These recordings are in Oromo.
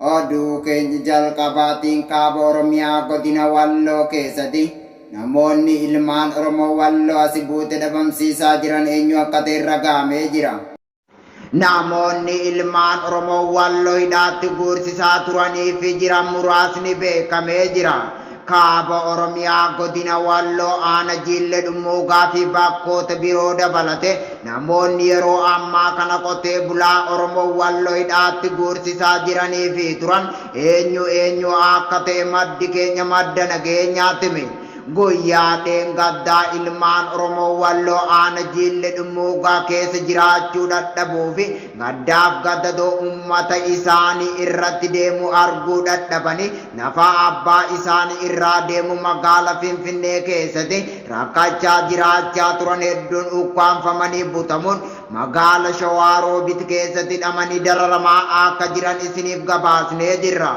Oduu keenya jalqabaatiin kaaba Oromiyaa godina Walloo keessatti namoonni ilmaan Oromoo Walloo asi buute dhabamsiisaa jiran eenyu akka ta'e ragaamee jira. Namoonni ilmaan Oromoo Walloo hidhaatti guursisaa turanii fi jiran muraasni beekamee jira. Kaaba Oromiyaa Godina Walloo Aana Jiille Dhummuugaa fi bakkoota biroo dabalate namoonni yeroo ammaa kana qotee bulaa Oromoo Walloo hidhaatti guursisaa jiranii fi turan eenyu eenyu akka ta'e maddi keenya madda nageenyaatti hime. Guyyaa dheengaddaa ilmaan Oromoo Walloo Aana Jiille Dhummuugaa keessa jiraachuu dhadhabuu fi Gaddaaf gadadoo ummata isaani irratti deemu arguu dhadhabani nafaa abbaa isaani irraa deemu magaala finfinnee keessati rakkachaa jiraachaa turan hedduun ukkaamfamanii butamuun magaala shawaa roobit keessati hidhamani dararamaa akka jiran isiniif gabaasnee jirra.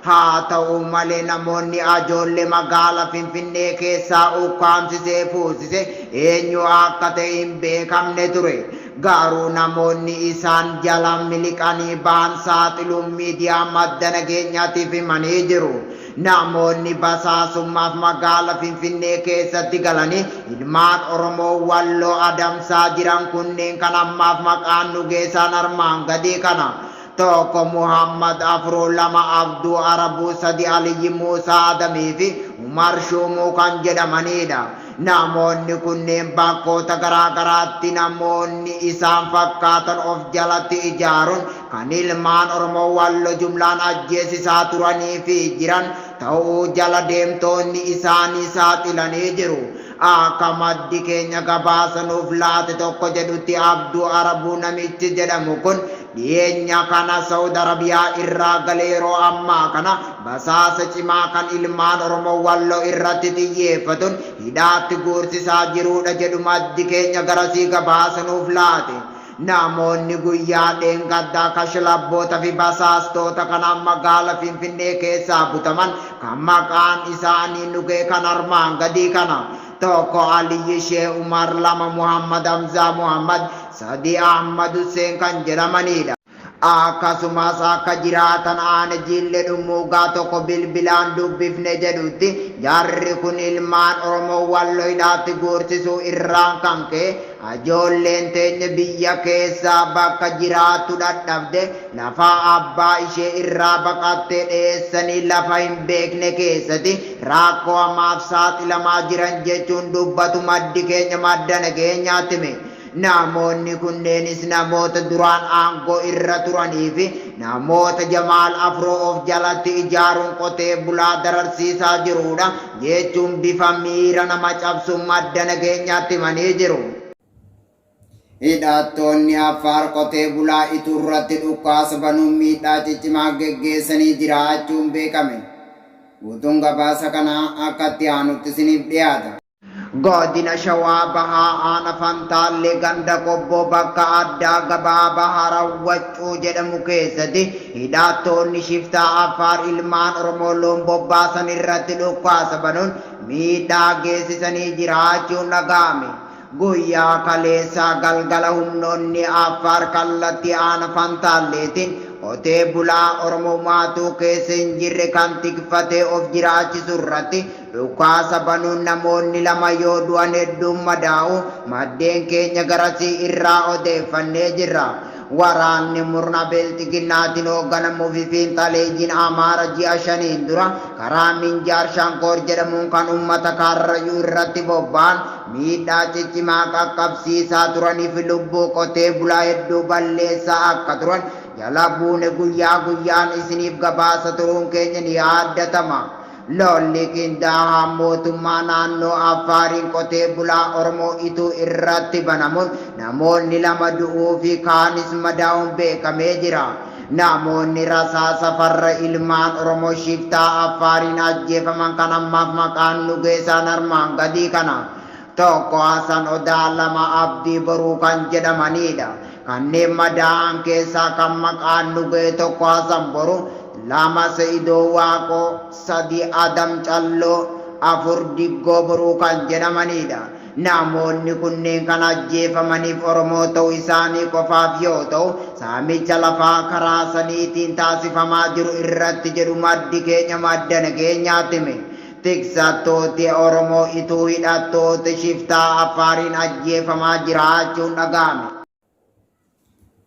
Haata'u malee namoonni ajoolle magaala Finfinnee keessaa ukkaamsisee fuusise eenyu akka ta'e hin beekamne ture. Garuu namoonni isaan jala miliqanii bahan saaxiluun miidiyaa madda nageenyatiif himanii jiru. Namoonni basaasummaaf magaala Finfinnee keessatti galanii ilmaan Oromoo Walloo adamsaa jiran kunneen kan ammaaf maqaan nu geesaan armaan gadii kana. 1 Muhammad 4 2 Abduu Arabuu 3 Aliyyi Muusaa Adamii fi Umar Shuumuu kan jedhamaniidha. Namoonni kunneen bakkoota garaa garaatti namoonni isaan fakkaatan of jalatti ijaaruun kan ilmaan Oromoo Wallo jumlaan ajjeesisaa turanii fi jiran ta'uu jala deemtoonni isaanii saaxilanii jiru. Akka maddi keenya gabaasa nuuf laate tokko jedhutti Abduu Arabuu namichi jedhamu kun Dhiyeenya kana Sawud Arabiyaa irraa gale yeroo ammaa kana basaasa cimaa kan ilmaan Oromoo Walloo irratti xiyyeeffatun hidhaatti guursisaa jiruudha jedhu maddi keenya garasii gabaasa nuuf laate. Namoonni guyyaa dheengaddaa kashlabboota fi basaastoota kanaan magaala Finfinnee keessaa butaman kan maqaan isaanii nu ga'e kan armaan gadii kana. 1 Aliyyi Sheeh Umar 2 Muhammad Hamzaa Muhammad Sadii Ahmad Husseen kan jedhamaniidha. Akkasumas akka jiraatan aane Jiille Dhummuugaa tokko bilbilaan dubbifne jedhutti jarri kun ilmaan Oromoo Wallo hidhaatti guursisuu irraan kan ka'e ajoolleen teenye biyya keessaa bakka jiraattu dhadhabde lafaa abbaa ishee irraa baqattee dheessanii lafa hin beekne keessati raakkoo hamaaf saaxilamaa jiran jechuun dubbatu maddi keenya madda nageenyaatti hime. Namoonni kunneenis namoota duraan aangoo irra turanii fi namoota Jamaal Afroo of jalatti ijaaruun qotee bulaa dararsiisaa jiruudha, jechuun bifa miira nama cabsuun madda nageenyaatti himanii jiru. Hidhattoonni Affaar qotee bulaa Ituu irratti dhukkaasa banuun miidhaa ciccimaa geggeessanii jiraachuun beekame. Guutuun gabaasa kanaa akka itti aanutti isiniif dhiyaata. Godina Shawaa Bahaa Aana Fantaallee Ganda Qobboo bakka addaa gabaa Bahara Waccuu jedhamu keessatti hidhaattoonni shiftaa Affaar ilmaan Oromoo loon bobbaasan irratti dhukkaasa banuun miidhaa geessisanii jiraachuun dhaga'ame. Guyyaa kaleessaa galgala humnoonni Affaar kallattii Aana Fantaalleetiin qotee bulaa Oromoo maatuu keessa hin jirre kan tikfatee of jiraachisu irratti Dhukaasa banuun namoonni lama yoo du'an hedduun madaa'u maddeen keenya garasii irraa odeeffannee jirra. Waraanni murna Bilxiginnaatin hoogganamu fi fiinxaleeyyiin Amaara ji'a shaniin dura karaa Minjaar Shankoor jedhamuun kan ummata Kaarrayyuu irratti bobba'an miidhaa ciccimaa qaqqabsiisaa turanii fi lubbuu qotee bulaa hedduu balleessaa akka turan jala buune guyyaa guyyaan isiniif gabaasa turuun keenya ni yaadatama. Lolli qindaahaan mootummaa naannoo Affaariin qotee bulaa Oromoo Ituu irratti banamuun namoonni lama du'uu fi kaanis madaa'uun beekamee jira. Namoonni rasaasa farra ilmaan Oromoo shiftaa Affaariin ajjeefaman kan ammaaf maqaan nu geesaan armaan gadii kana. 1 Hasan Odaa 2 Abdii Boruu kan jedhamaniidha. Kanneen madaa'an keessaa kan maqaan nu gahe 1 Hasan Boru 2 Sa'idoo Waaqoo 3 Adam Calloo 4 Diggoo Boruu kan jedhamaniidha. Namoonni kunneen kan ajjeefamaniif Oromoo ta'uu isaanii qofaaf yoo ta'u, saamicha lafaa karaa saniitiin taasifamaa jiru irratti jedhu maddi keenya madda nageenyaatti hime. Tiksattooti Oromoo ituu hidhattooti shiftaa Affaariin ajjeefamaa jiraachuun dhaga'ame.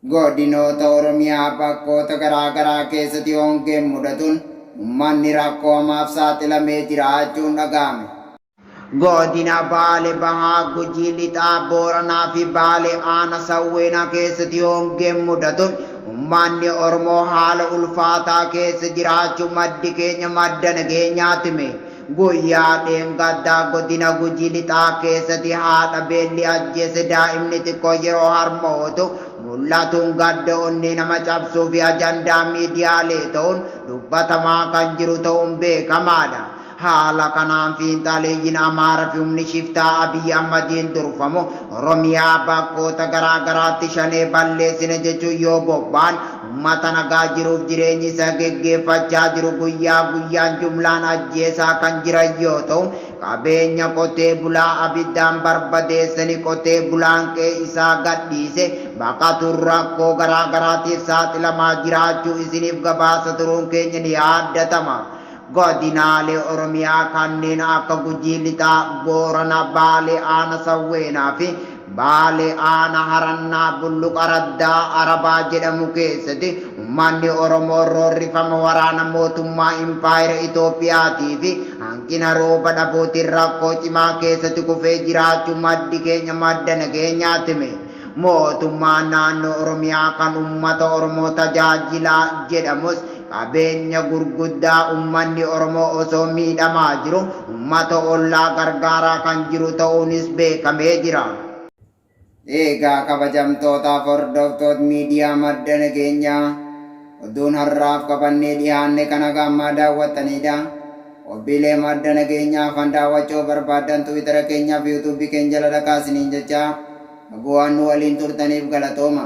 Godinoota Oromiyaa bakkoota garaa garaa keessati hongeen mudatuun ummanni rakkoo hamaaf saaxilamee jiraachuun dhaga'ame. Godina Baale Bahaa, Gujii Lixaa, Booranaa fi Baale Aana Sawweenaa keessati hongeen mudatuun Ummaanni Oromoo haala ulfaataa keessa jiraachu maddi keenya madda nageenyaatime. Guyyaa dheengaddaa godina Gujii Lixaa keessati haadha beelli ajjeese daa'imni xiqqoo yeroo harmootu mul'atun gadda onnee nama cabsuufi ajandaa miidiyaalee ta'un dubbatamaa kan jiru ta'un beekamaadha. Haala kanaan fiinxaaleeyyiin Amaara fi humni shiftaa Abiy Ahmadiin durfamu Oromiyaa bakkoota garaa garaatti Shanee balleessine jechuun yoo bobba'an ummata nagaa jiruuf jireenyi isaa geggeeffachaa jiru guyyaa guyyaan jumlaan ajjeesaa kan jiran yoo ta'u, qabeenya qotee bulaa abiddaan barbadeessanii qotee bulaan qe'ee isaa gadhiisee baqatuun rakkoo garaa garaatiif saaxilamaa jiraachuu isiniif gabaasa turuun keenya ni yaadatama. Godinaalee Oromiyaa kanneen akka Gujii Lixaa, Boorana, Baalee Aana Sawweenaa fi Baalee Aana Harannaa Bulluq Araddaa Arabaa jedhamu keessati ummanni Oromoo roorrifama waraana mootummaa Impaayera Itoophiyaatii fi hanqina rooba dhabuutiin rakkoo cimaa keessati kufee jiraachuu maddi keenya madda nageenyaatti hime. Mootummaan Naannoo Oromiyaa kan ummata Oromoo tajaajila jedhamus qabeenya gurguddaa ummanni Oromoo osoo miidhamaa jiru ummata ollaa gargaaraa kan jiru ta'uunis beekamee jira. Eegaa kabajamtootaaf hordoftoot miidiyaa Madda Nageenyaa, oduun har'aaf qabannee dhihaanne kan haga ammaa daawwattaniidha. Qophiilee madda nageenyaa hafan daawwachuu yoo barbaaddan Twitter keenyaa fi YouTube keenya jala dhaqaa isiniin jechaa, bu'aan nu waliin turtaniif galatooma.